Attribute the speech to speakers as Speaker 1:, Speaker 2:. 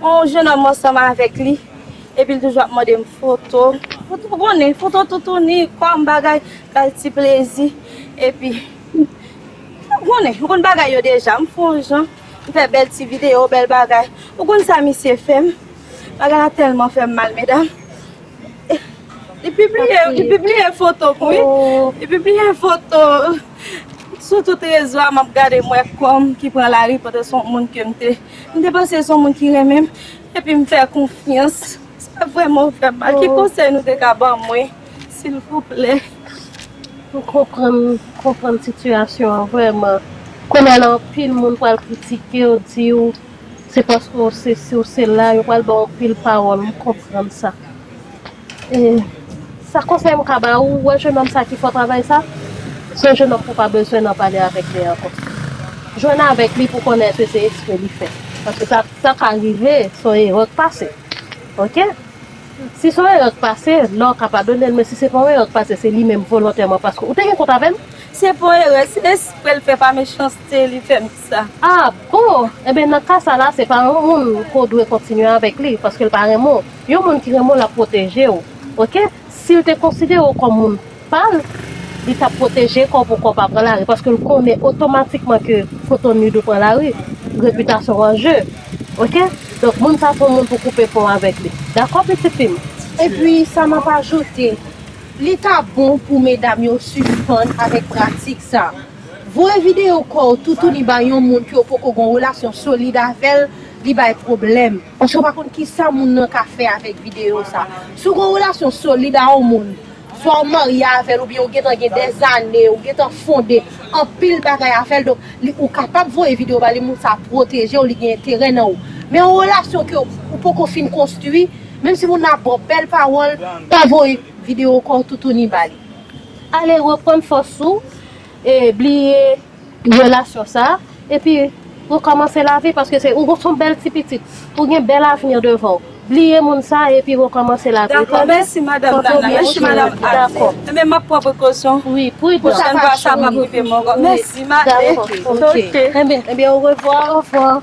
Speaker 1: On jenòm ansanm avèk li epi l toujou ap mande m foto. Ou konnen, foto toutouni, kòm bagay, ba l ti plezi. Epi, ou konnen, ou konn bagay yo deja. M fè on jan, m fè bèl ti videyo, bèl bagay. Ou konn sa misye fè m? Bagay la tèlman fè m mal, medam. Li pibliye, li pibliye foto m, wi. Li pibliye foto sou tout rezo a, m ap gade, m wè kò m ki pran lari, pote son moun ke m te. M te panse se yon moun ki renmen m epi m fè konfyans. Se pa vrèman ou fè m mal. Ki konsèy nou te ka ban mwen silvouplè? M
Speaker 2: konprann, m konprann sitiyasyon an vrèman. Kounye a la anpil moun pral kritike w, di w se paske w sesi, w sela, yo pral ba w anpil pawòl, m konprann sa. Sa konsèy m ka ba ou, wè jenòm sa ki fò travay sa, se yon jenòm pou pa bezwen nan pale avèk li ankò. Jwenn avèk li pou konnen èske se ekspre li fè. Paske sa ka rive se yon erè k pase. Ok? Si se yon erè k pase, la w ka padone l, men si se pa yon erè k pase, se li menm volontèman paske ou te gen kont avè m. Si se pa yon erè, se
Speaker 1: espre l fè, pa mechanste li fè. A bon!
Speaker 2: Enben nan ka sa la se pa yon moun ke w dwe kontinye avèk li paske l pa renmen w. Yon moun ki renmen w l ap pwoteje w ok. Si l te konsidere w kòm moun pa l, li t ap pwoteje kò pou kò pa pran lari paske l konnen otomatikman ke foto nude ou pran lari, repitasyon w an je ok. Donk moun sa se yon moun pou w koupe pon avèk li dakò pitit fi m. Epi sa
Speaker 3: m ap ajoute, li ta bon pou medam yo sispann avèk pratik sa. Voye videyo kò w toutouni bay yon moun ke w poko gon relasyon solid avè l, li bay pwoblèm. Paske w pa konn kisa moun nan ka fè avèk videyo sa. Si w gon relasyon solid a yon moun, swa w marye avè l oubyen ou gentan gen dèzane, ou gentan fonde anpil bagay avè l, donk li ou kapab voye videyo ba li, moun sa pwoteje w, li gen enterè nan ou. Men yon relasyon ke ou poko fin konstwi, menm si moun nan ap ba w bèl pawòl, pa voye videyo kò w toutouni ba li. Ale
Speaker 2: reprann fòs ou e bliye relasyon sa epi rekòmanse lavi paske se ou son bèl ti pitit ou gen bèl avni devan w bliye moun sa epi rekòmanse lavi ou tande
Speaker 1: dakò wi pridan ebyen
Speaker 2: orevwa.